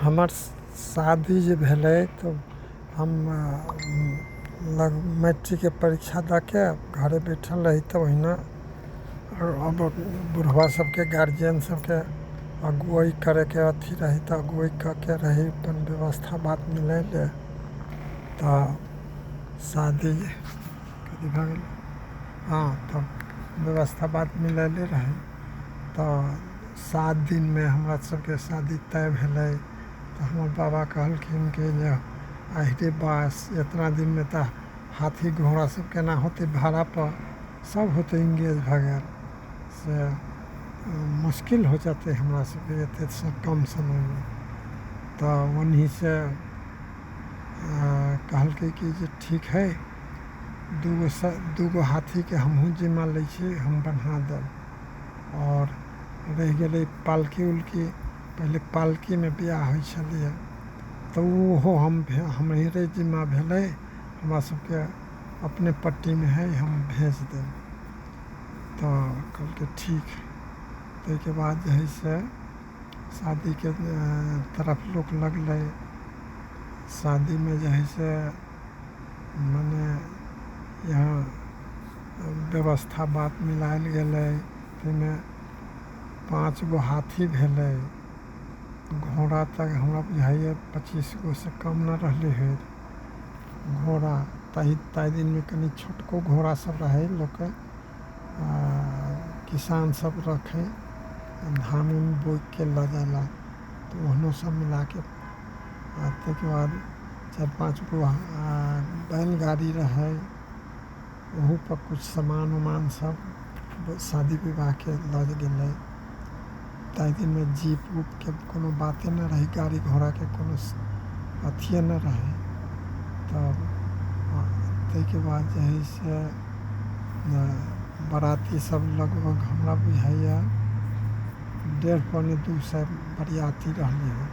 हमर शादी जे भेलै तऽ हम लग मैट्रिकके परीक्षा दऽ कऽ घरे बैठल रही तऽ ओहिना बुढ़बा सभके गार्जिअन सभके अगुआइ करैके अथी रहै तऽ अगुआइ कऽ कऽ रहै अपन बेबस्था बात मिलै रहै तऽ शादी हँ तऽ बेबस्था बात मिलैले रहै तऽ सात दिनमे हमरा सबके शादी तय भेलै तऽ हमर बाबा कहलखिन कि जे आहि रे बास एतना दिनमे तऽ हाथी घोड़ा सब केना होतै भाड़ापर सब होतै इंगेज भए गेल से मुश्किल हो जेतै हमरा सबके एते सब कम समयमे तऽ ओनही से कहलकै कि जे ठीक है दूगो सँ दूगो हाथीके हमहूँ जिम्मा लै छी हम बन्हा देब आओर रहि गेलै पालकी उलकी पहिले पालकीमे बिआह होइ छलैए तऽ ओहो हम हमरे जिम्मा भेलै हमरा सभके अपने पट्टीमे हइ हम भेज देब तऽ कहलकै ठीक ताहिके बाद जे हइ से शादीके तरफ लोक लगलै शादीमे जे हइ से मने यहाँ व्यवस्था बात मिलाएल गेलै ताहिमे पाँच गो हाथी भेलै घोड़ा तऽ हमरा बुझाइए पचीस गो से कम नहि रहलै हँ घोड़ा ताहि ताहि दिनमे कनि छोटको घोड़ा सब रहै लोकके किसान सब रखै धान उन बोइके लऽ जाइ लए तऽ ओहनो सब मिलाके आओर तैके बाद चारि पाँच गो बैलगाड़ी रहै ओहूपर किछु सामान उमान सब शादी विवाहके लऽ गेलै ताहि दिनमे जीप उपके कोनो बाते नहि रहै गाड़ी घोड़ाके कोनो अथिये नहि रहै तब ताहिके बाद जे है से बराती सब लगभग हमरा बुझाइया डेढ़ पौने दू सए बरियाती रहलै हँ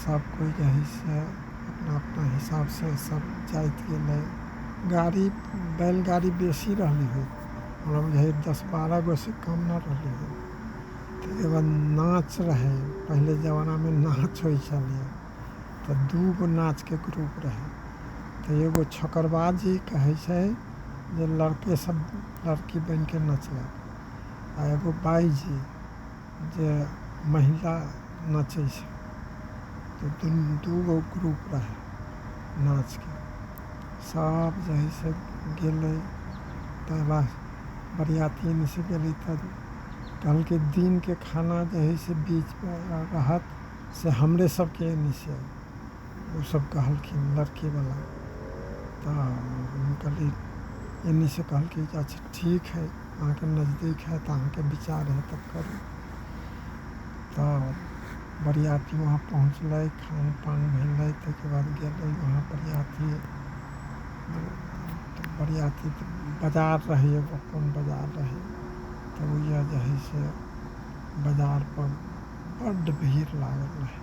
सब कोइ जे है से अपना अपना हिसाब से सब जाइत गेलै गाड़ी बैलगाड़ी बेसी रहलै हँ हमरा बुझाइए दस बारह गो से कम नहि रहलै हँ ताहिके बाद नाच रहै पहिले जमानामे नाच होइ छलैए तऽ दूगो नाचके ग्रुप रहै तऽ एगो छकरबाजी कहै छै जे लड़केसभ लड़की बनि कऽ नचलक आ एगो बाइजी जे महिला नाचै छै तऽ दुनू दू गो ग्रुप रहै नाचके सब जे हइ से गेलै तऽ लास बरियाती एन्ने से गेलै तऽ कहलकै दिनके खाना जे हइ से बीचमे रहत से हमरे सबके एन्ने से ओसब कहलखिन लड़कीवला तऽ हम कहलिए एन्ने से कहलकै जे अच्छा ठीक हइ अहाँके नजदीक हएत अहाँके विचार हएत तऽ करू तऽ बरियाती वहाँ पहुँचलै खान पान भेलै ताहिके बाद गेलै वहाँ बरियाती तऽ बरियाती तऽ बाजार रहै एगो कोन बाजार रहै तऽ ओहिजा जे हइ से बाजारपर बड्ड भीड़ लागल रहै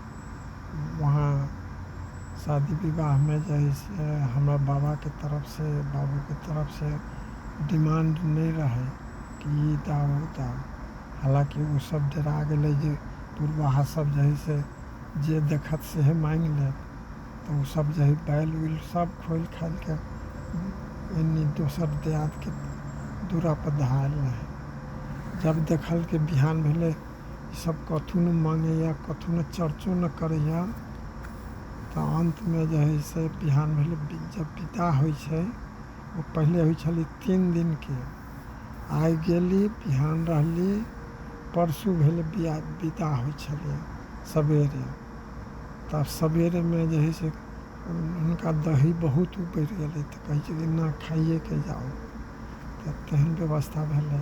वहाँ शादी विवाहमे जे हइ से हमरा बाबाके तरफ से बाबूके तरफ से डिमांड नहि रहै कि ई दान ओ दान हलाँकि ओ सब डेरा गेलै जे पुरबाहा सब जे हइ से जे देखत सेहे माँगि लेत तऽ ओ सब जे हइ बैल उल सब खोलि खालिके एन्नी दोसर दियादके दूरा पर धएल रहै जब देखलकै बिहान भेलै ईसब कथु नहि मानैए कथु नहि चर्चो नहि करैए तऽ अन्तमे जे हइ से बिहान भेलै जब विदा होइ छै ओ पहिले होइ छलै तीन दिनके आइ गेली बिहान रहली परसू भेल बिआ विदा होइ छलै सबेरे तऽ सबेरेमे जे हइ से हुनका दही बहुत उपरि गेलै तऽ कहै छलै नहि खाइएके जाउ तऽ तेहन बेबस्था भेलै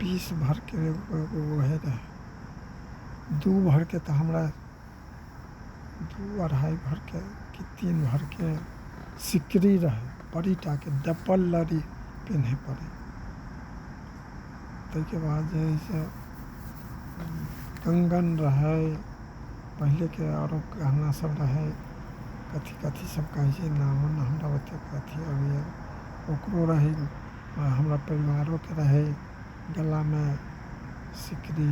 बीस भरके एगो एगो ओहे रहै दू भरके तऽ हमरा दू अढ़ाइ भरके कि तीन भरके सिकरी रहै बड़ी टाके डबल लड़ी पिन्है पड़ै ताहिके बाद जे है से कंगन रहै पहिलेके आरो गहना सब रहै कथी कथी सब कहै छै नामो नहि हमरा ओतेक अथी अबैए ओकरो रहै आ हमरा परिवारोके रहै गलामे सिकड़ी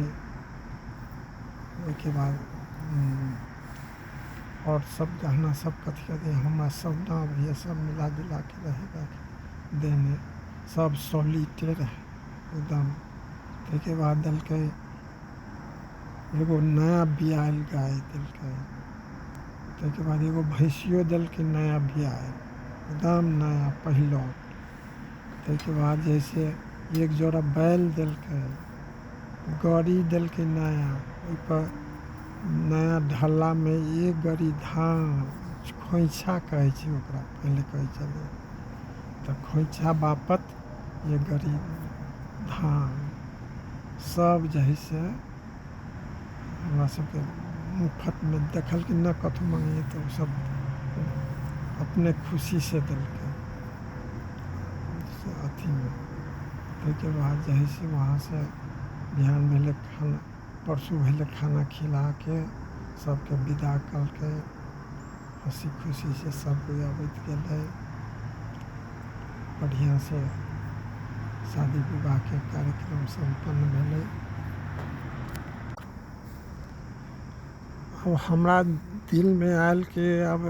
ओहिके बाद आओर सब गहना सब कथी कथी हमरा सब नाम यऽ सब मिला जुलाके रहै रहै देहमे सब सॉलिडे रहै एकदम ताहिके बाद देलकै एगो नया बिआएल गाय देलकै ताहिके बाद एगो भैंसियो देलकै नया बिआएल एकदम नया पहिलौठ ताहिके बाद जे हइ से एक जोड़ा बैल देलकै गाड़ी देलकै नया ओहिपर नया ढालामे एक गाड़ी धान खोँइछा कहै छै ओकरा पहिले कहै छलै तऽ खोँइछा बापत एक गाड़ी धान सभ जे हइ से हमरा सबके मुफ्तमे देखलकै नहि कथु मँगेलियै तऽ ओ सब अपने खुशी से देलकै अथीमे ओहिके बाद जे है से वहाँ से बिहान भेलै खाना परसू भेलै खाना खिलाके सबके बिदा केलकै हँसी खुशीसँ सभ कोइ अबैत गेलै बढ़िआँसँ शादी विवाहके कार्यक्रम सम्पन्न भेलै आब हमरा दिलमे आयल कि आब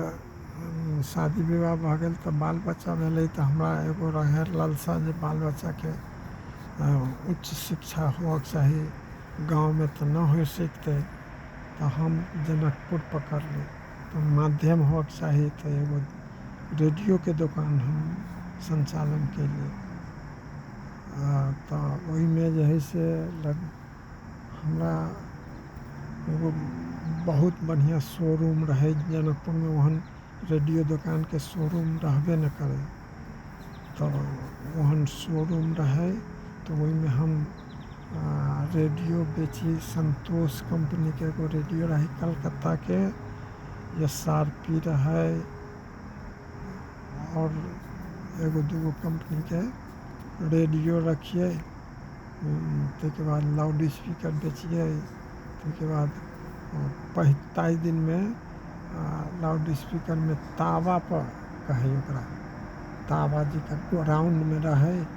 शादी विवाह भऽ गेल तऽ बाल बच्चा भेलै तऽ हमरा एगो रहय लालसा जे बाल बच्चाके उच्च शिक्षा होवक चाही गाँवमे तऽ न होइ सिखतै तऽ हम जनकपुर पकड़ली तऽ माध्यम होइके चाही तऽ एगो रेडियोके दोकान हम सञ्चालन कयली आ तऽ ओहिमे जे हइ से हमरा एगो बहुत बढ़िआँ शो रूम रहै जनकपुरमे ओहन रेडियो दोकानके शो रूम रहबे नहि करै तऽ ओहन शो रूम रहै तऽ ओहिमे हम रेडियो बेचि सन्तोष कम्पनीके एगो रेडियो रहै कलकत्ताके एस आर पी रहै आओर एगो दूगो कम्पनीके रेडियो रखिए ताहिके बाद लाउड स्पीकर बेचिए ताहिके बाद पहि ताहि दिनमे लाउड स्पीकरमे तावापर कहै ओकरा तावा जकर राउण्डमे रहै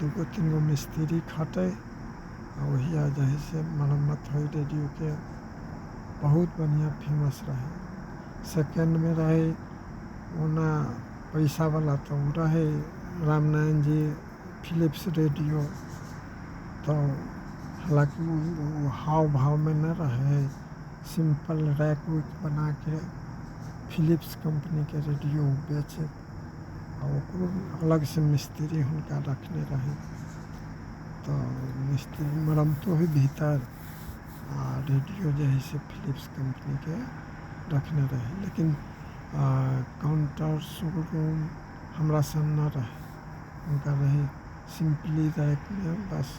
दू गो तीन गो मिस्त्री खटै आ ओहिया जे है से मरम्मत होइ रेडियोके बहुत बढ़िआँ फेमस रहै सेकेंडमे रहै ओना पैसावला तऽ ओ रहै रामनारायण जी फिलिप्स रेडियो तऽ हालाँकि ओ हाव भावमे नहि रहै सिंपल रैक उक बना कऽ फिलिप्स कंपनीके रेडियो ओ बेचै आ ओकरो अलगसँ मिस्त्री हुनका रखने रहै तऽ मिस्त्री मरमतो होइ भीतर आ रेडियो जे हइ से फिलिप्स कम्पनीके रखने रहै लेकिन काउंटर शोरूम हमरा सन नहि रहै हुनका रहै सिम्पली रैकमे बस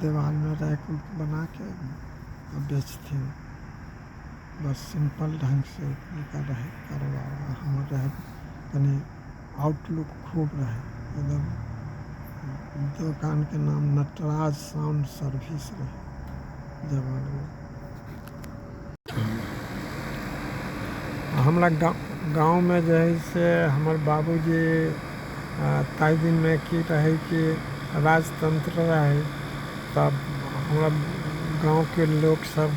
देवालमे रैक उक बना कऽ आ बेचथिन बस सिम्पल ढङ्गसँ हुनका रहय कारोबार आ हमर रहय कनी आउटलुक खूब रहय एकदम दोकानके नाम नटराज साउंड सर्विस रहय जमानामे हमरा गाँव गाँवमे जे हइ से हमर बाबूजी ताहि दिनमे की रहै कि राजतंत्र रहै तब हमरा गाँवके लोक सब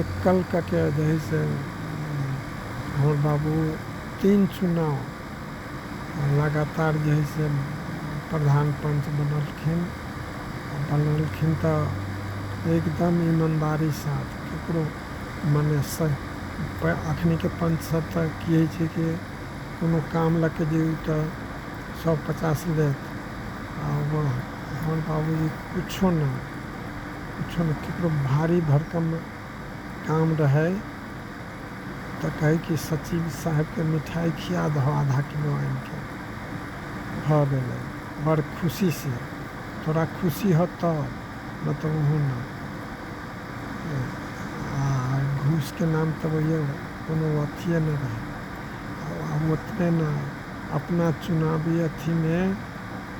एकल कके दही से हमर बाबू तीन चुनाव लगातार जे है से प्रधान पंच बनलखिन आ बनलखिन तऽ एकदम ईमानदारी साथ केकरो मने सह प अखनी के पंच सब तऽ की है छै कि कोनो काम लऽ के जइयौ तऽ सौ पचास लेत आ हमर बाबूजी कुछो ना किछो नहि ककरो भारी भरकम काम रहय तऽ कहय कि सचिव साहेबके मिठाइ खिया दहो आधा किलो आनिके भऽ गेलय बड़ खुशीसँ तोरा खुशी हौ तब नहि तऽ ओहो नहि आ घूसके नाम तऽ ओहियो कोनो अथिये नहि रहय आ ओतने नहि अपना चुनावी अथीमे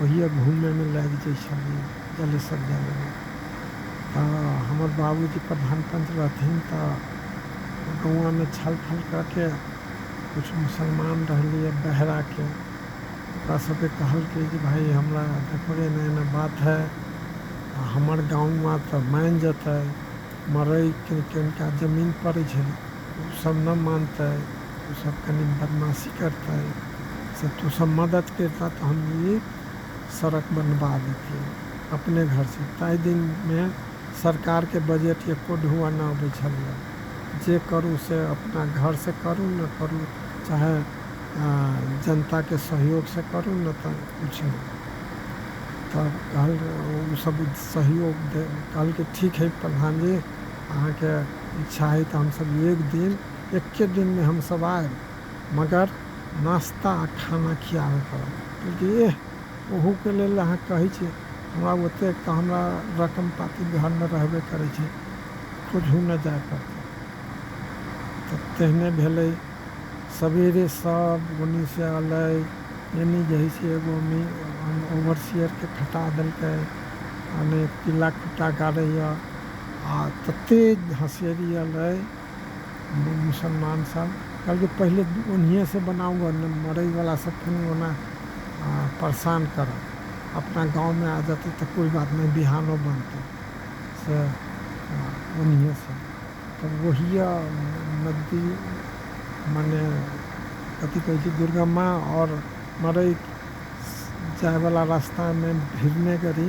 ओहिए घूमैमे लागि जाइत छलियै जलेसर जाय लगलहुँ तऽ हमर बाबूजी प्रधान पंच रहथिन तऽ गौआँमे छल फल कऽके किछु मुसलमान रहलियै बहराके ओकरा सबके कहलकै जे भाइ हमरा देखबै एना एना बात है आ हमर गाँवमे तऽ मानि जेतै मड़इ किनका जमीन पड़ैत छै ओ सब नहि मानतै ओ सब कनी बदमाशी करतै से तू सब मदद करितऽ तऽ हम ई सड़क बनबा देतियै अपने घरसँ ताहि दिनमे सरकारके बजट एको ढौआ नहि अबै छलैए जे करू से अपना घरसँ करू नहि करू चाहे जनताके सहयोगसँ करू नहि तऽ किछु नहि तऽ कहल ओ सब सहयोग कहलकै ठीक हइ प्रधान जी अहाँके इच्छा हइ तऽ हमसब एक दिन एक्के दिन मे हम सब आएब मगर नाश्ता आ खाना खियावे पड़त। कहलकै एह ओहू के लेल अहाँ कहै छी हमरा ओतेक त हमरा रकम पाती घर मे रहबे करै छै खोजहु न जाए पड़तै। त तेहने भेलै सबेरे सब ओनी से अलै एनी जहि से एगो ओवरसियर के खटा देलकै मने पिला खुटा गाड़ैय आ तते हँसेरी अलै। मुसलमान सब कहलकै पहिले ओनहिए से बनाउ ग ने मरै वाला सब फेन ओना परेशान करब अपना गाँव में आ जाते तो कोई बात नहीं बिहानो बनते से ओनहिए से तब वही नदी मने कथी कहै छै दुर्गा माँ और मरै जाए वाला रास्ता में भिड़ने करी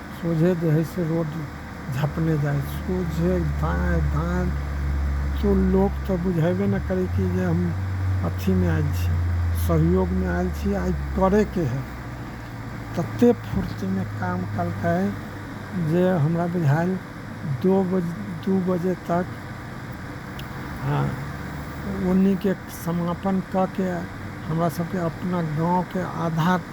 सोझे जे हइ से रोड झँपने जाइ हइ सोझे दाँइ बाँइ केओ लोक तऽ बुझैबे नहि करै कि जे हम अथीमे आएल छी सहयोगमे आएल छी आओर ई करैके हइ ततेक फुर्तीमे काम केलकै जे हमरा बुझाएल दो बजे दुइ बजे तक हँ ओन्नीके समापन कऽ कऽ हमरासभके अपना गामके आधा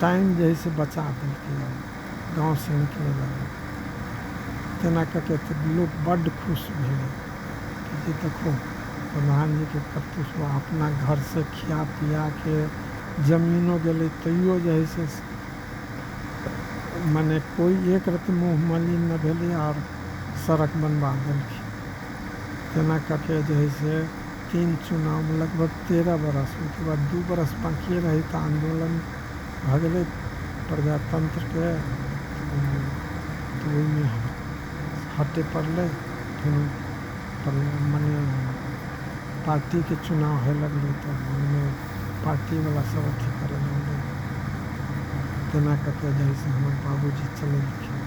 टाइम जे है से बचा देलकैए गाँवसँ निकलै लए तेना कऽ के तऽ लोक बड्ड खुश भेलै कि जे देखू प्रधानजीके करतूत अपना घरसँ खिया पियाके जमीनो गेलै तैयो जे है से मने कोइ एक रति मुँह मलिन नहि भेलै आओर सड़क बनबा देलखिन तेना कऽ के जे है से तीन चुनावमे लगभग तेरह बरस ओहिके बाद दू बरस बाँकिए रहै तऽ आन्दोलन भऽ गेलै प्रजातन्त्रके तऽ ओहिमे हटै पड़लै फेर मने पार्टीके चुनाव होइ लगलै तऽ ओहिमे पार्टीवला सब अथी करऽ लगलै तेना कऽ कऽ जे हइ से हमर बाबूजी चलेलखिन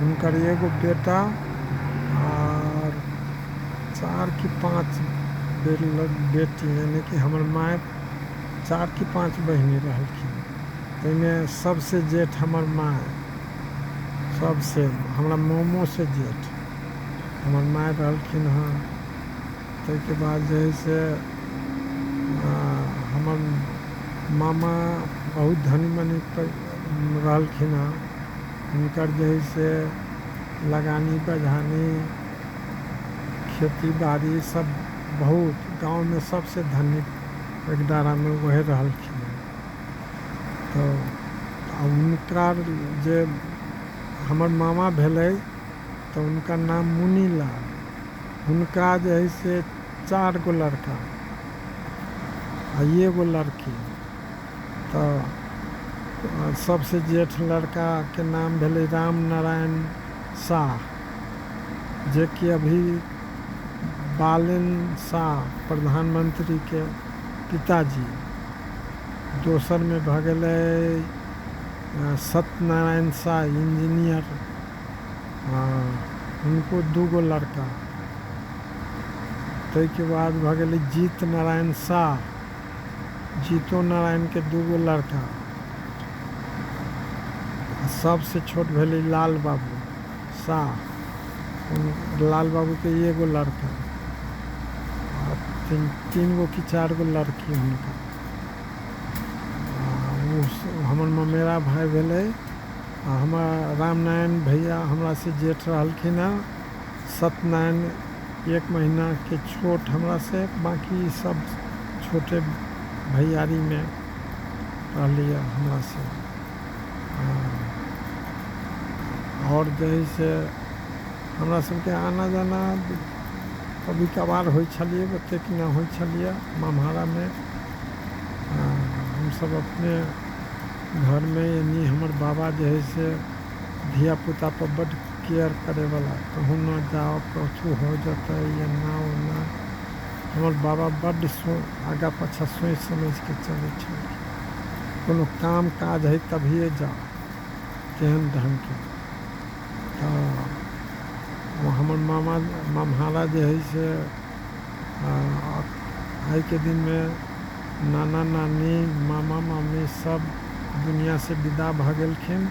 हुनकर एगो बेटा आओर चारि कि पाँच बेटी यानि कि हमर माइ चारि कि पाँच बहिनी रहलखिन ताहिमे सबसे जेठ हमर माइ सबसे हमरा मोमो से जेठ हमर माइ रहलखिन हँ ताहिके बाद जे है से हमर मामा बहुत धनी मनी रहलखिन हँ हिनकर जे हइ से लगानी बझानी खेती बाड़ी सब बहुत गाँवमे सबसँ धनिक एगदारामे ओहे रहलखिन हँ तऽ आ हुनकर जे हमर मामा भेलै तऽ हुनकर नाम मुनीलाल हुनका जे हइ से चारि गो लड़का आ एगो लड़की तऽ सबसँ जेठ लड़काके नाम भेलै राम नारायण शाह जेकि अभी बालेन शाह प्रधानमन्त्रीके पिताजी दोसरमे भऽ गेलै सत्यनारायण शाह इंजीनियर हुनको दूगो लड़का ताहिके बाद भऽ गेलै जीत नारायण शाह जीतो नारायणके दूगो लड़का सबसँ छोट भेलै लाल बाबू शाह लाल बाबूके एगो लड़का तीन तीन गो कि चारि गो लड़की हुनका हमर ममेरा भाय भेलै आ हमर रामनारायण भैया हमरासँ जेठ रहलखिन हँ सत्यनारायण एक महीनाके छोट हमरासँ बाँकी सब छोटे भैयारीमे रहलैए हमरासँ आओर जे हइ से हमरा सबके आना जाना कभी कभार होइ छलियै ओतेक नहि होइ छलियै ममहारामे हमसब अपने घरमे यानी हमर बाबा जे हइ से धियापुता पर बड्ड केयर करैवला। कहूँ न जाउ, कछु हो जेतै, एना-ओना। हमर बाबा बड्ड आगा-पाछाँ सोचि-समझि कऽ चलै छलखिन। कोनो काम-काज हइ तभिए जाउ। तेहन ढंगके। तऽ ओ हमर मामा, ममहारा जे हइ से आ आइके दिनमे नाना-नानी, मामा-मामी सब दुनियाँसँ विदा भऽ गेलखिन।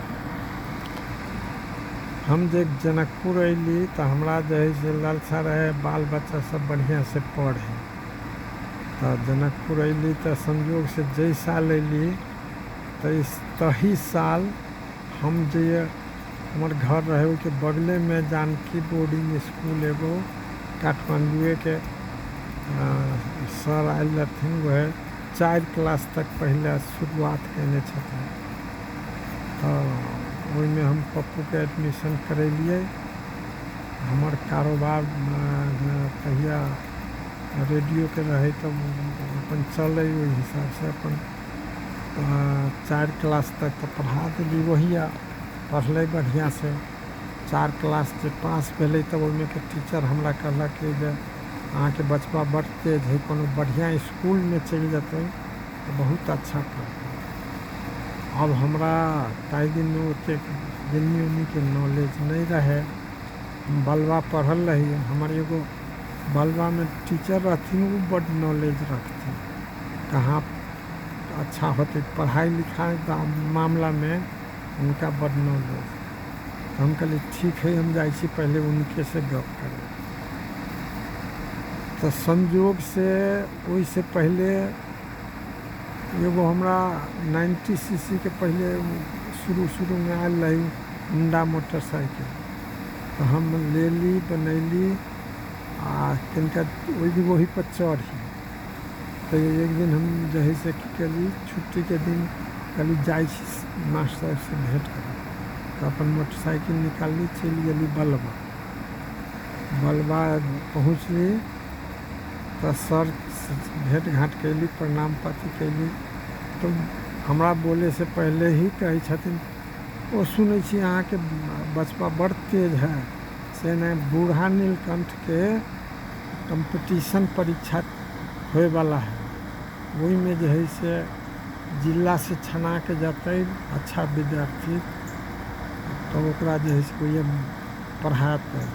हम जे जनकपुर अयली तऽ हमरा जे हइ से लालसा रहै बाल बच्चा सब बढ़िआँ से पढ़े तऽ जनकपुर अयली तऽ संजोग से जै साल अयली तऽ तही साल हम जे हमर घर रहे ओहिके बगले में जानकी बोर्डिंग स्कूल एगो काठमांडूए के सर आयल रहथिन वह चारि क्लास तक पहिले शुरुआत कयने छथिन तऽ ओहिमे हम पप्पूके एडमिशन करेलियै हमर कारोबार तहिया रेडियोके रहै तऽ अपन चलै ओहि हिसाबसँ अपन चारि क्लास तक तऽ पढ़ा देली ओहिया पढ़लै बढ़िआँसँ चारि क्लास जे पास भेलै तऽ ओहिमेके टीचर हमरा कहलक कि जे अहाँके बचबा बड्ड तेज हइ कोनो बढ़िआँ इसकुलमे चलि जेतै तऽ बहुत अच्छा पढ़तै आब हमरा ताहि दिन ओतेक दिल्ली उल्लीके नॉलेज नहि रहै हम बलबा पढ़ल रही हमर एगो बलबामे टीचर रहथिन ओ बड्ड नॉलेज रखथिन कहाँ अच्छा होतै पढ़ाइ लिखाइ मामिलामे हुनका बड्ड नाओ लोभ तऽ हम कहलियै ठीक है हम जाइ छी पहिले उनके से गप करै तऽ संयोग से ओहि से पहिले एगो हमरा नाइन्टी सी सी के पहिले शुरू शुरू मे आयल रही होंडा मोटरसाइकिल तऽ हम लेली बनैली आ तनिका ओहि दिन ओहि पर चढ़ी तऽ एक दिन हम जे हइ से की कयली छुट्टीके दिन कहली जाइ छी मास्टर साहेबसँ भेँट करी तऽ अपन मोटरसाइकिल निकालली चलि गेली बलबा बलबा पहुँचली तऽ सर भेँट घाँट कयली प्रणाम पाती कयली तऽ हमरा बोलेसँ पहिले ही कहै छथिन ओ सुनै छी अहाँके बचबा बड़ तेज है से नहि बूढ़ा नीलकण्ठके कम्पटिशन परीक्षा होइवला हइ ओहिमे जे हइ से जिलासँ छनाके जेतै अच्छा विद्यार्थी तब ओकरा जे हइ से ओहिमे पढ़ेतै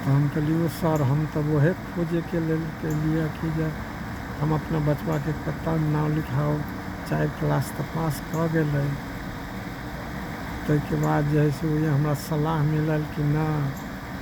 तऽ हम कहलिए सर हम तऽ वएह खोजैके लेल केलिए कि जे हम अपना बचबाके कतऽ नाम लिखाउ चारि क्लास तऽ पास कऽ गेलै ताहिके बाद जे हइ से ओहिमे हमरा सलाह मिलल कि नहि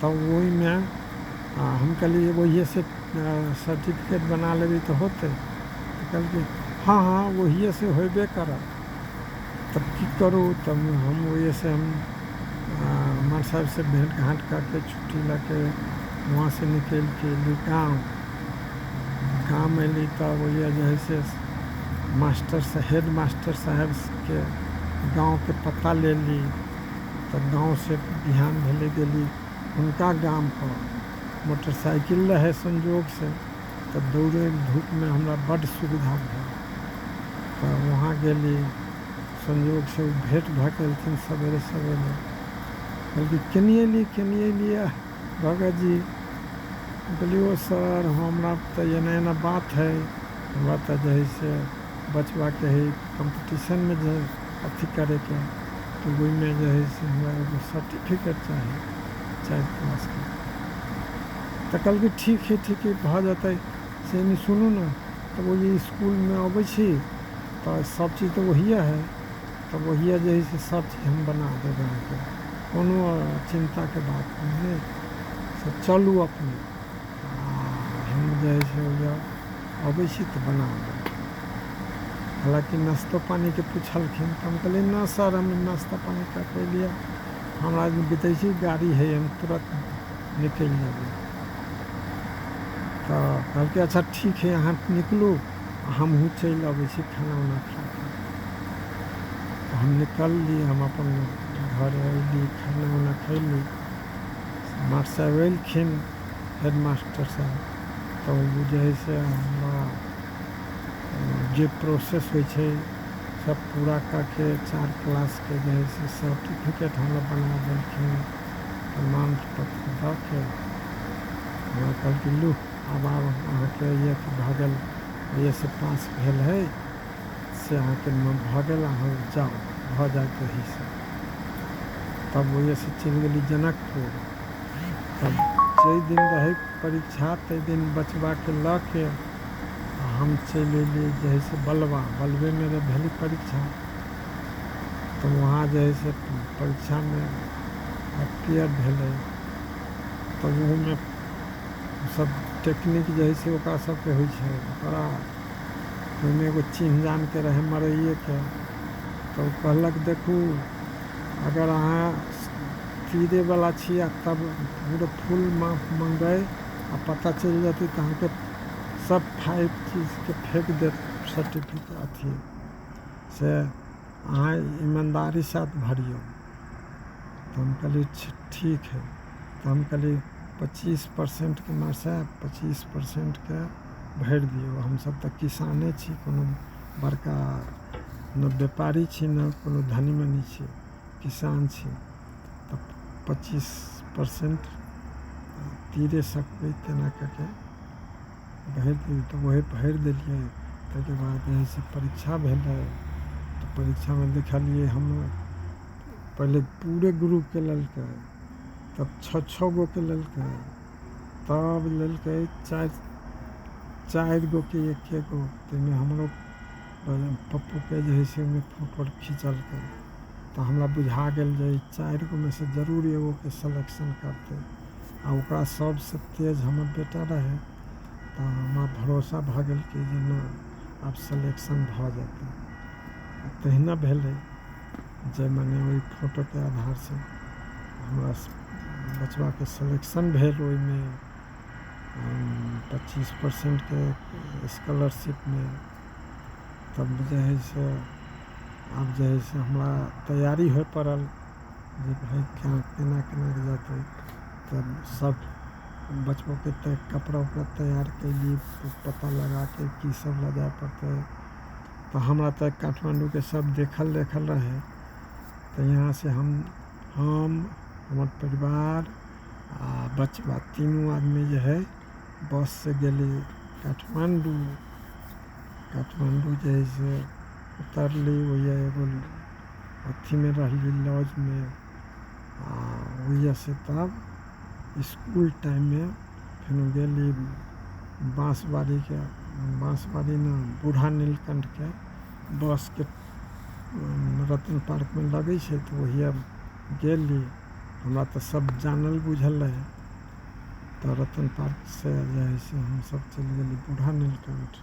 तऽ ओहिमे हम कहलियै ओहिए से सर्टिफिकेट बना लेबै तऽ होतै तऽ कहलकै हँ हँ ओहिए से होयबे करत तऽ की करू तऽ हम ओहिए से हम मास्टर साहब से भेँट घाँट कऽके छुट्टी लऽके वहाँ से निकलिके एलियै गाँव गाँव मे एलियै तऽ ओहिए जे है से मास्टर साहेब हेड मास्टर साहेब के गाँव के पता लेली तऽ गाँवसँ बिहान भेलै गेली हुनका गामपर मोटरसाइकिल रहै संयोगसँ तऽ दौड़य धूपमे हमरा बड्ड सुविधा भेल तऽ वहाँ गेली संयोगसँ ओ भेँट भऽ गेलखिन सवेरे सवेरे कहलकै केनी एलियै केनी एलियै भगत जी कहलियै ओ सर हमरा तऽ एना एना बात हइ हमरा तऽ जे हइ से बचबाके हइ कम्पटिशनमे जे अथी करैके तऽ ओहिमे जे हइ से हमरा एगो सर्टिफिकेट चाही चारि क्लासके तऽ कहलकै ठीक हइ ठीक हइ भऽ जेतै से नहि सुनू ने तऽ ओहि इसकुलमे अबै छी तऽ सबचीज तऽ ओहिए हइ तऽ ओहिए जे हइ से सबचीज हम बना देब अहाँके कोनो चिन्ताके बात नहि हइ से चलू अपने भिड़ जाइ छै ओइजा अबै छी तऽ बना देब हालाँकि नाश्तो पानीके पुछलखिन तऽ हम कहलियै ना सर हम नाश्ता पानी का कोइ लिए हमरा बितै छै गाड़ी है हम तुरत निकलि जेबै तऽ कहलकै अच्छा ठीक है अहाँ निकलू हमहूँ चलि अबै छी खाना उना खा कऽ तऽ हम निकलली हम अपन घर अयली खाना उना खयली मास्टर अयलखिन हेडमास्टर साहब तऽ ओ बुझै हइ से हमरा जे प्रोसेस होइ छै सब पूरा कऽ के चार क्लासके जे हइ से सर्टिफिकेट हमरा बना देलखिन प्रमाण पत्र दऽ के हमरा कहलखिन लू आब आब अहाँके ई अथी भऽ गेल बी एस पास भेल हइ से अहाँके मन भऽ गेल अहाँ जाउ भऽ जायत एहीसँ तब ओहिसँ चलि गेली जनकपुर तऽ जाहि दिन रहै परीक्षा ताहि दिन बचबाके लऽ के आ हम चलि अयलियै जे है से बलवा बलवेमे रहै भेलै परीक्षा तऽ वहाँ जे है से परीक्षामे अपियर भेलै तऽ ओहोमे सब टेक्निक जे है से ओकरा सबके होइ छै ओकरा ओहिमे एगो चिन्ह जानके रहै मरैएके तऽ ओ कहलक देखू अगर अहाँ चीरय बला छी आ तब हमरे फूल माफ मंगय आ पता चलि जयतै तऽ अहाँके सब फाइव चीजके फेक देत सर्टिफिकेट अथी से अहाँ ईमानदारी साथ भरियौ तऽ हम कहली ठीक है तऽ हम कहली पच्चीस परसेंटके मासे पच्चीस परसेंटके भरि दियौ हमसभ तऽ किसाने छी कोनो बड़का ने व्यापारी छी ने कोनो धनी मनी छी किसान छी तऽ पच्चीस परसेंट तीरे सकबै तेना कऽ कऽ भरि देलियै तऽ उएह भरि देलियै ताहिके बाद जे हइ से परीक्षा भेलै तऽ परीक्षामे लिखलियै हम पहिले पूरे ग्रुपके लेलकै तब छओ छओ गोके लेलकै तब लेलकै चारि चारि गोके एक्के गो ताहिमे हमरो पप्पोके जे हइ से ओहिमे फोटो अर खिचलकै तऽ हमरा बुझा गेल जे ई चारि गो मे से जरूर एगो के सेलेक्शन करतै आ ओकरा सबसे तेज हमर बेटा रहै तऽ हमरा भरोसा भऽ गेल कि जे नहि आब सेलेक्शन भऽ जेतै आ तहिना भेलै जे मने ओहि फोटो के आधार से हमरा बचबा के सेलेक्शन भेल ओहिमे पच्चीस परसेंट के स्कॉलरशिप मे तब जे है से आब जे हइ से हमरा तैयारी होइ पड़ल जे भाय केना केना केना कऽ जेतै तऽ सभ बचबोके तऽ कपड़ा उपड़ा तैयार कयली पता लगा कऽ कीसभ लऽ जाय पड़तै तऽ हमरा तऽ काठमाण्डूके सभ देखल देखल रहै तऽ यहाँसँ हम हम हमर परिवार आ बचबा तीनू आदमी जे हइ बससँ गेली काठमाण्डू काठमाण्डू जे हइ से उतरली ओहिए एगो अथीमे रहली लॉजमे आ ओहिए से तब इसकुल टाइममे फेर गेली बाँसबाड़ीके बाँसबाड़ी ने बूढ़ा नीलकण्ठके बसके रतन पार्कमे लगै छै तऽ ओहिए गेली हमरा तऽ सब जानल बुझल रहै तऽ रतन पार्क से जे है से हमसब चलि गेली बूढ़ा नीलकण्ठ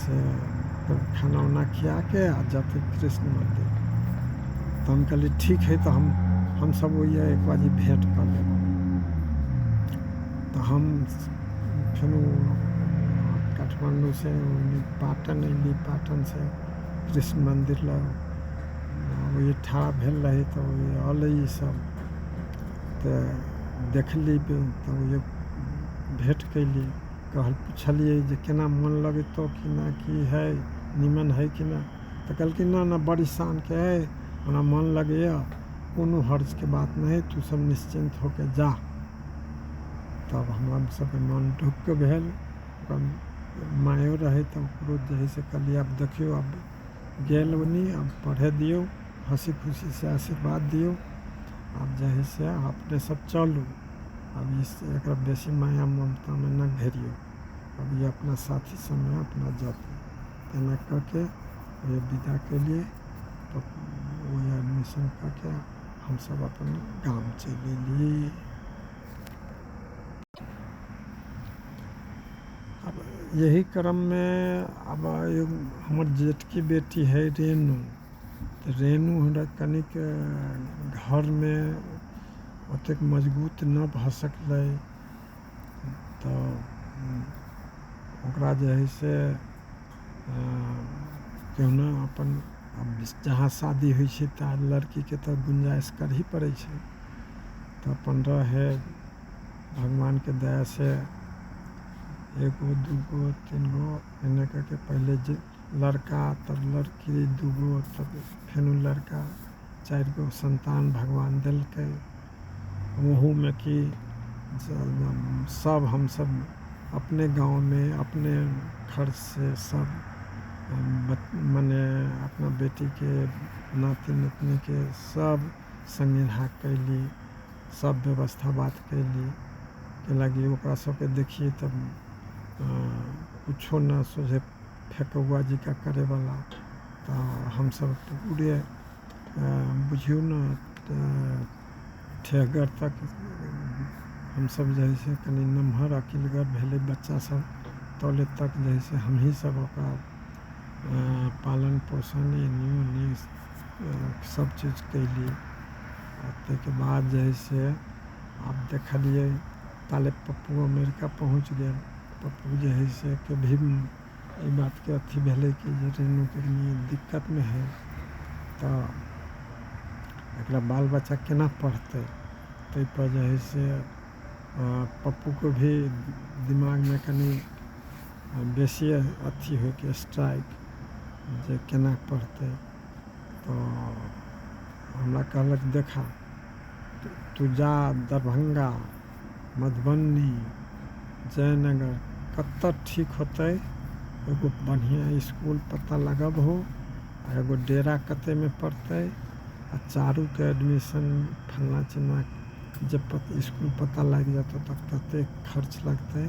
से फेर खाना उना खियाके आ जेतै कृष्ण मन्दिर तऽ हम कहलियै ठीक हइ तऽ हम हमसभ ओहिए एक बारी भेँट कऽ लेब तऽ हम फेर ओ काठमाण्डूसँ ओन्नऽ पाटन अयली पाटनसँ कृष्ण मन्दिर लग ओहिए ठाढ़ भेल रही तऽ ओहिए अयलै इसभ तऽ देखली तऽ ओहिए भेँट कयली कहल पुछलियै जे केना मोन लगेतौ कि नहि की हइ नीमन हइ कि नहि तऽ कहलकै नहि नहि बड़ी शानके हइ हमरा मोन लगैए कोनो हर्जके बात नहि हइ तू सब निश्चिन्त हो के जा तब हमरा सबके मोन ढुक्क भेल मायो रहै तऽ ओकरो जे हइ से कहलियै आब देखियौ आब गेल ओनी आब पढ़ै दियौ हँसी खुशी से आशीर्वाद दियौ आब जे है से अहाँ अपने सब चलू आब ई से एकरा बेसी माया ममतामे नहि घेरियौ आब ई अपना साथी सङ्गे अपना जाति एना कऽ के ओहे विदा केलियै तऽ ओहे एडमिशन कऽ के हमसब अपन गाम चलि अयली आब एहि क्रममे आब हमर जेठकी बेटी हइ रेणु तऽ रेणु हमरा कनिक घरमे ओतेक मजबूत नहि भऽ सकलै तऽ ओकरा जे हइ से केहुना अपन जहाँ शादी होइ छै तहाँ लड़कीके तऽ गुंजाइश करही पड़ै छै तऽ अपन रहै भगवानके दया से एगो दूगो तीन गो एने कऽ के पहिले जे लड़का तब लड़की दू गो तब फेनु लड़का चारि गो सन्तान भगवान देलकै ओहूमे कि सभ हमसभ अपने गाँवमे अपने खर्च से सभ मने अपना बेटीके नाती नतिनीके सभ सनेहा कयली सब व्यवस्था बात कयली एहि लागी ओकरा सबके देखियै तऽ किछो नहि सोझे फेकौआ जकाँ करै बला तऽ हमसब तऽ पूरे बुझियौ ने ठेहगर तक हमसब जे है से कनी नमहर अकिलगर भेलै बच्चा सब तबले तक जे है से हमही सब ओकरा पालन पोषण एनी ओनी सब चीज कयली आओर तैके बाद जे है से आब देखलियै ताले पप्पो अमेरिका पहुँच गेल पप्पो जे है से कभी भी अइ बातके अथी भेलै कि जे ट्रेनिंग कनी दिक्कतमे है तऽ एकरा बाल बच्चा केना पढ़तै तैपर जे है से पप्पोके भी दिमागमे कनी बेसिए अथी होइके स्ट्राइक जे केना पढ़तै तऽ हमरा कहलक देखा तू जा दरभंगा मधुबनी जयनगर कतय ठीक होतै एगो बढ़िआँ इसकुल पता लगबहु आ एगो डेरा कतयमे पड़तै आ चारूके एडमिशन फल्लाँ चिल्लाँ जब इसकुल पता लागि जेतै तब कतेक खर्च लगतै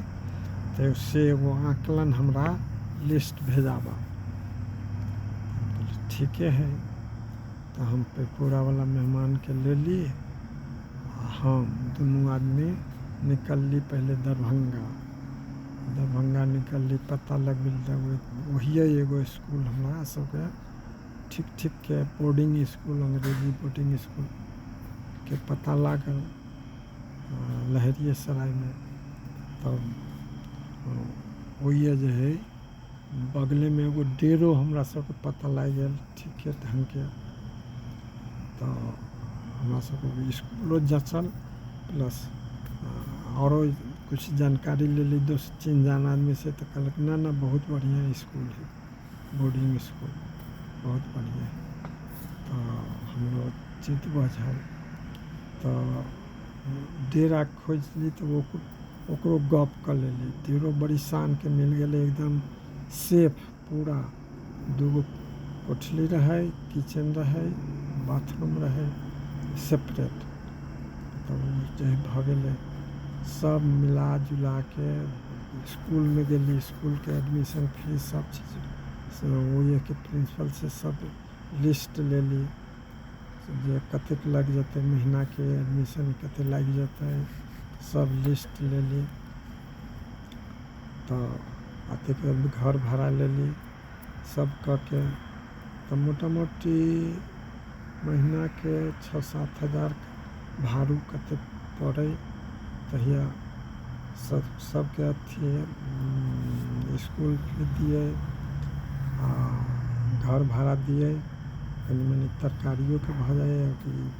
तऽ से एगो आकलन हमरा लिस्ट भेजाबह ठीके हइ तऽ हम पेकोरावला मेहमानके लेली आ हम दुनू आदमी निकलली पहिले दरभंगा दरभंगा निकलली पता लगबैले तऽ ओहिए एगो इसकुल हमरा सभके ठीक ठीकके बोर्डिंग इसकुल अंग्रेजी बोर्डिंग इसकुलके पता लागल लहेरियेसरायमे तब ओहिए जे हइ बगलेमे एगो डेरो हमरा सबके पता लागि गेल ठीके ढङ्गके तऽ हमरा सबके ओहि इसकुलो जँचल प्लस आओरो किछु जानकारी लेली दोस्त चिन्ह जान आदमी से तऽ कहलक नहि नहि बहुत बढ़िआँ इसकुल हइ बोर्डिंग इसकुल बहुत बढ़िआँ तऽ हमरो चित्त बझल तऽ डेरा खोजली तऽ ओ ओकरो गप कऽ लेली डेरो बड़ी शानके मिल गेलै एकदम सेफ पूरा दू गो कोठली रहै किचेन रहै बाथरूम रहै सेपरेट तऽ ओ जे भऽ गेलै सब मिला जुलाके इसकुलमे गेली इसकुलके एडमिशन फीस सब चीज से ओहिके प्रिंसिपल से सब लिस्ट लेली जे कतेक लागि जेतै महीनाके एडमिशन कते लागि जेतै सब लिस्ट लेली तऽ अतेक घर भाड़ा लेली सब कऽ के तऽ मोटा मोटी महीनाके छओ सात हजार भाड़ो कते पड़ै तहिया सब सबके अथी इसकुल फी दियै आओर घर भाड़ा दियै कनी मनी तरकारियोके भऽ जाइ अथी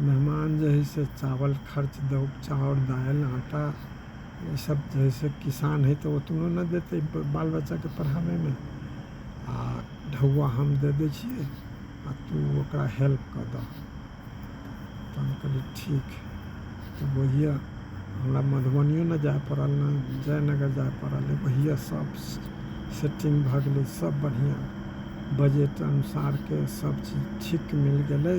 मेहमान जे है से चावल खर्च दो चाउर दालि आटा ई सब जे है से किसान है तऽ ओतनो नहि देतै बाल बच्चाके पढ़ाबैमे आ ढौआ हम दे दै छियै आ तू ओकरा हेल्प कऽ दऽ तऽ हम कहलियै ठीक है तऽ बुझियऽ हमरा मधुबनियो नहि जाय पड़ल नहि जयनगर जाय पड़ल बुझियऽ सब सेटिंग भऽ गेलै सब बढ़िऑं बजट अनुसारके सब चीज ठीक मिल गेलै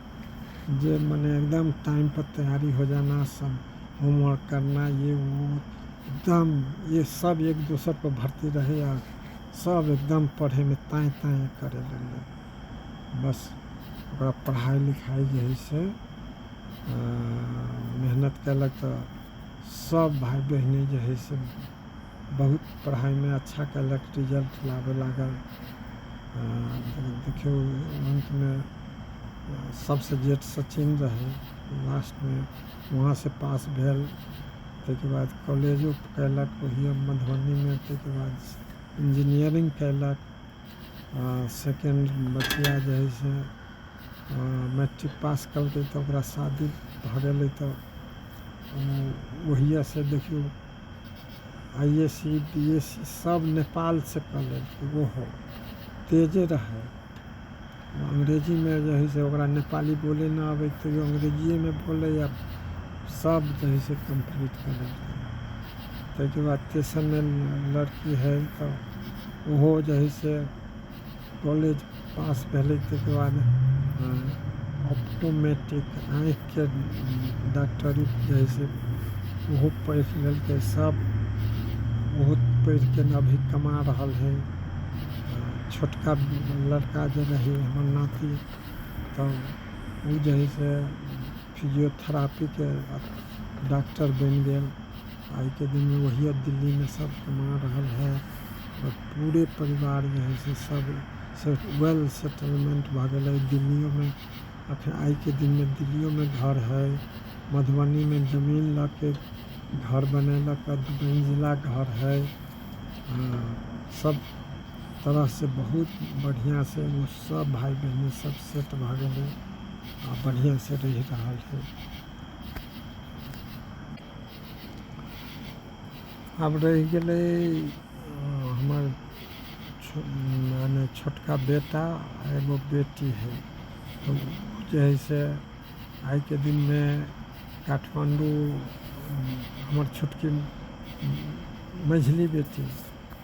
जे मने एकदम टाइम पर तैयारी हो जाना सब होमवर्क करना ये वो एकदम ये सब एक दोसर पर भरती रहै आ सब एकदम पढ़ैमे ताँय ताँय करै लगलै बस ओकरा पढ़ाइ लिखाइ जे है से मेहनत कयलक तऽ सब भाय बहिन जे है से बहुत पढ़ाइमे अच्छा केलक रिजल्ट लाबऽ लागल देखियौ अन्तमे सबसँ जेठ सचिन रहै लास्टमे वहाँसँ पास भेल तैके बाद कॉलेजो केलक ओहिये मधुबनीमे तैके बाद इंजीनियरिंग केलक आओर सेकेंड बचिया जे है से मैट्रिक पास केलकै तऽ ओकरा शादी भऽ गेलै तऽ ओहियेसँ देखियौ I S C B S C सभ नेपालसँ कऽ लेलकै ओहो तेजे रहय अंग्रेजीमे जे हइ से ओकरा नेपाली बोलय नहि अबै तैओ अंग्रेजिएमे बोलय आ सभ जे हइ से कम्प्लीट कऽ लेलकै ताहिके बाद तेसरमे लड़की हइ तऽ ओहो जे हइ से कॉलेज पास भेलै ताहिके बाद ऑप्टोमेट्रिक आँखिके डाक्टरी जे हइ से ओहो पढ़ि लेलकै सभ बहुत पढ़िके ने अभी कमा रहल हइ छोटका लड़का जे रहै हमर नाती तऽ ओ जे हइ से फिजियोथेरापीके डाक्टर बनि गेल आइ के दिन में वही अब दिल्ली में सब कमा रहल है और पूरे परिवार जो है से सब से वेल सेटलमेंट भऽ गेलै दिल्लियो में अखन आइ के दिन में दिल्लियो में घर है मधुबनी में जमीन लऽ के घर बनेलक आ दू मंजिला घर है हाँ, सब तरह से बहुत बढ़िया से वो सब भाई बहन सब सेट भऽ गेलै आ बढ़िया से रहि रहल है आब रहि गेलै हमर मने छोटका बेटा आ एगो बेटी है तऽ ओ जे है से आइके दिनमे काठमाण्डू हमर छोटकी मझली बेटी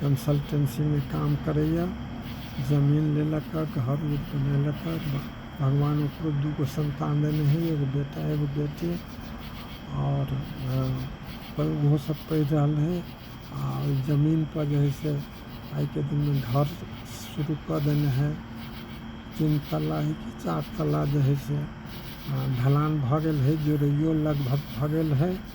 कंसल्टेंसीमे काम करैए जमीन लेलक हँ घर उर बनेलक हँ भगवान ओकरो दू गो सन्तान देने हइ एगो बेटा एगो बेटी आओर ओहो सब पढ़ि रहल हइ आओर ओहि जमीनपर जे हइ से आइके दिनमे घर शुरू कऽ देने हइ तीन तल्ला हइ कि चारि तल्ला जे हइ से ढलान भऽ गेल हइ जोड़ैओ लगभग भऽ गेल हइ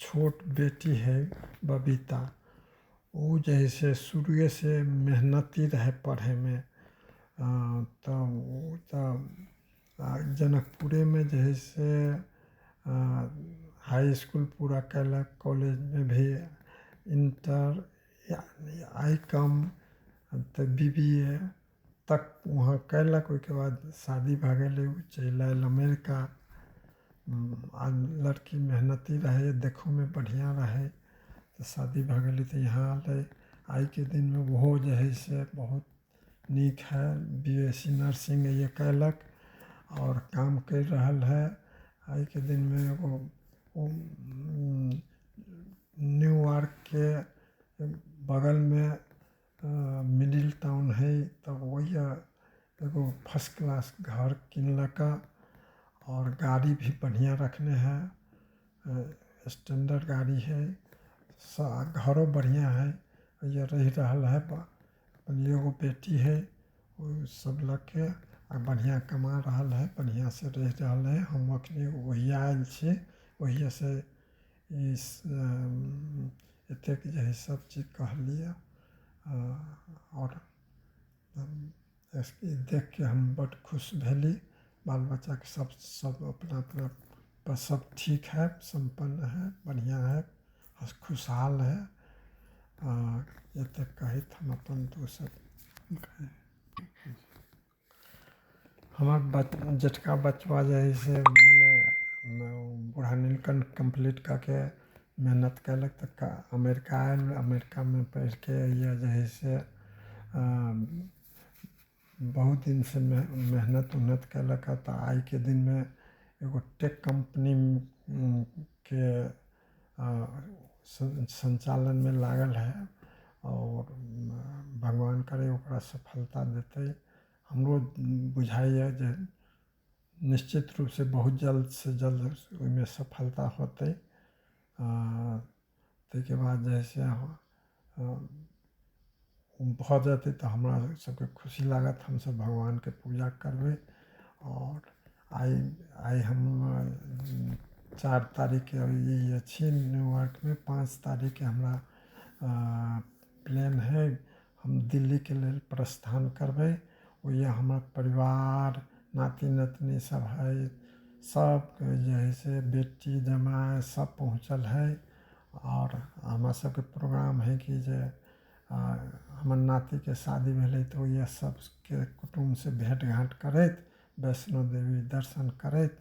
छोट बेटी हइ बबीता ओ जे हइ से शुरुएसँ मेहनती रहय पढ़यमे तऽ ओ तऽ जनकपुरेमे जे हइ से हाइ इसकुल पूरा कयलक कॉलेजमे भी इन्टर आइ कॉम तऽ बी बी ए तक वहाँ कयलक ओहिके बाद शादी भए गेलै ओ चलि आयल अमेरिका आ लड़की मेहनती रहै देखहोमे बढ़िआँ रहै तऽ शादी भए गेलै तऽ यहाँ अयलै आइके दिनमे ओहो जे हइ से बहुत नीक हइ बी एस सी नर्सिंग इएह कयलक आओर काम करि रहल हइ आइके दिनमे एगो ओ न्यूयार्कके बगलमे तऽ मिडिल टाउन हइ तब ओहिया एगो फर्स्ट क्लास घर किनलका आओर गाड़ी भी बढ़िआँ रखने हइ स्टैंडर्ड गाड़ी हइ सा घरो बढ़िआँ हइ ओहिया रहि रहल हइ ओहिमे एगो बेटी हइ ओ सभ लऽ कऽ आ बढ़िआँ कमा रहल हइ बढ़िआँसँ रहि रहल हइ हम एखनि ओहिया आयल छी ओहियेसँ एतेक जे हइ सब चीज कहलियै आओर ई देखके हम बड खुश भेली बाल बच्चाके सब सब अपना अपना पर सब ठीक हइ सम्पन्न हइ बढ़िऑं हइ हस खुशहाल हइ आ एतेक कहैत हम अपन दू शब्द हमर बच जेठका बचबा जे हइ से मने बूढ़ा नीलकण्ठ कम्प्लीट कऽ के मेहनत कएलक तऽ का अमेरिका आएल अमेरिकामे पढ़िके अइए जे हइ से बहुत दिनसे मे मेहनत उहनत कएलक हँ तऽ आइके दिनमे एगो टेक कम्पनी के सं संचालनमे लागल हइ आओर भगवान करय ओकरा सफलता देतय हमरो बुझाइए जे निश्चित रूपसँ बहुत जल्दसँ जल्द ओइमे सफलता होतय तैके बाद जे हइ से भऽ जेतै तऽ हमरा सभके खुशी लागत हमसभ भगवानके पूजा करबै आओर आइ आइ हम चारि तारीखके ई अछि न्यूयार्कमे पाँच तारीखके हमरा प्लेन हइ हम दिल्लीके लेल प्रस्थान करबै ओहि लिए हमर परिवार नाती नतिनी सभ हइ सभ कोइ जे हइ से बेटी जमाइ सभ पहुँचल हइ आओर हमरा सबके प्रोग्राम हइ कि जे हमर नातीके शादी भेलै तऽ ओहिए सबके कुटुम्बसँ भेँट घाँट करैत वैष्णो देवी दर्शन करैत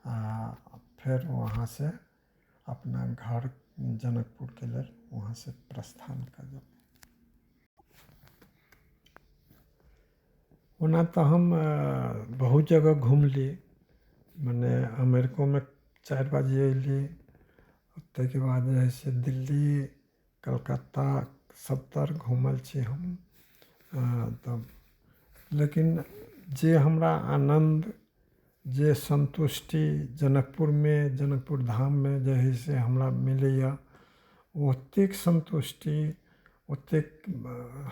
आओर फेर वहाँसँ अपना घर जनकपुरके लेल वहाँसँ प्रस्थान करब ओना तऽ हम बहुत जगह घुमली मने अमेरिकोमे चारि बार जे अएली ताहिके बाद जे हइ से दिल्ली कलकत्ता सभतरि घूमल छी हम हँ तब लेकिन जे हमरा आनन्द जे सन्तुष्टि जनकपुरमे जनकपुर धाममे जे हइ से हमरा मिलैए ओ ओतेक सन्तुष्टि ओतेक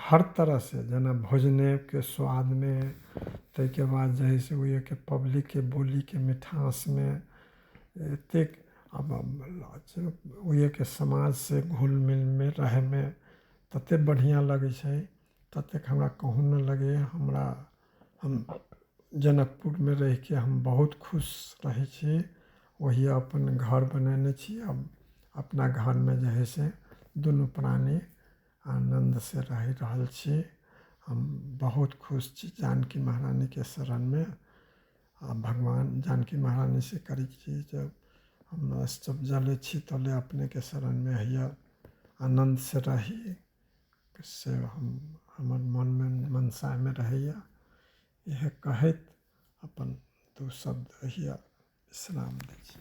हर तरहसँ जेना भोजनेके स्वादमे ताहिके बाद जे हइ से ओहिओके पब्लिकके बोलीके मिठासमे एतेक आब ओहिके समाज से घुल मिलमे रहैमे ततेक बढ़िऑं लगै छै ततेक हमरा कहू नहि लगैया हमरा हम जनकपुरमे रहिके हम बहुत खुश रहै छी ओहि अपन घर बनेने छी हम अपना घरमे जे है से दुनू प्राणी आनन्द से रहि रहल छी हम बहुत खुश छी जानकी महरानीके शरणमे आ भगवान जानकी महारानी से करी छी जब हम जब जले छी तले अपने के शरण में हैया आनंद से रही से हम हमर मन में मनसा में रहैया इएह कहैत अपन दू शब्द हैया विश्राम दै छी